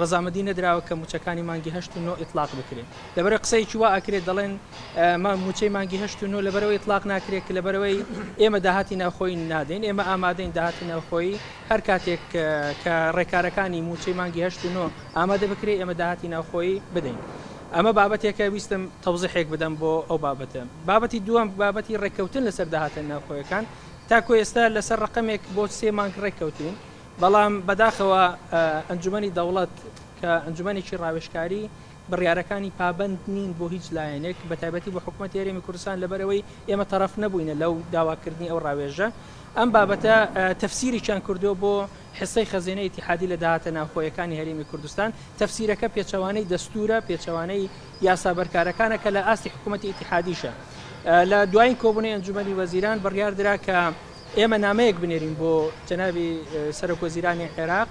ڕەزامەدی نەدراوە کە موچەکانی مانگی هەشت و نۆ ئیتڵاق بکرێ لەبەرەی قسەیەکی وا ئەکرێ دەڵێن موچەی مانگی هەشت و نۆ لەبەرەوەی ئیتڵاق ناکرێت کە لەبەرەوەی ئێمە داهاتی ناوخۆی نادەین ئێمە ئامادەین داهاتی ناوخۆی هەر کاتێک کە ڕێکارەکانی موچەی مانگی هەشت و نۆ ئامادە بکرێ ئێمە داهاتی ناوخۆی بدەین ئەمە بابەتێکە ویستم تەوزیحێک بدەم بۆ ئەو بابەتە بابەتی دووەم بابەتی ڕێککەوتن لەسەر داهاتە ناوخۆیەکان تاکۆ ئێستا لەسەر ڕقەمێک بۆ سێ مانگ ڕێککەوتین بەڵام بەداخەوە ئەنجومەنی دەوڵەت کە ئەنجومەنێکی ڕاوێژکاری بڕیارەکانی پابەند نین بۆ هیچ لایەنێک بە تایبەتی بۆ حکوومەت یاریێمی کوردستان لەبەرەوەی ئێمە تەرەف نەبووینە لەو داواکردنی ئەو ڕاوێژە ئەم بابەتە تەفسیریان کردووە بۆ حسەی خەزێنە ئتیحادی لە داهاتە ناوخۆیەکانی هەرێمی کوردستان تەفسیرەکە پێچەوانەی دەستورە پێچەوانەی یاسا بەرکارەکانە کە لە ئاستی حکوومەتتی ئتیحادیشە لە دوایین کۆبوونی ئەنجومی وەزیران بڕیاردرا کە ئێمە نامەیەک بنێرین بۆ جەنابی سەرۆک وەزیرانی عێراق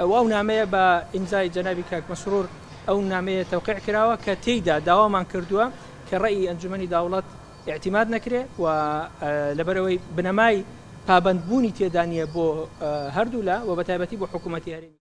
و ئەو نامەیە بە ئیمزای جەنابی کاک مەسرور ئەو نامەیە تەوقیع کراوە کە تێیدا داوامان کردووە کە ڕێی ئەنجومەنی داوڵەت اعتماد نەکرێ و لەبەرەوەی بنەمای پابەندبوونی تێدا نییە بۆ هەردوولا و بە تایبەتی بۆ حکوومەتی هەرێمی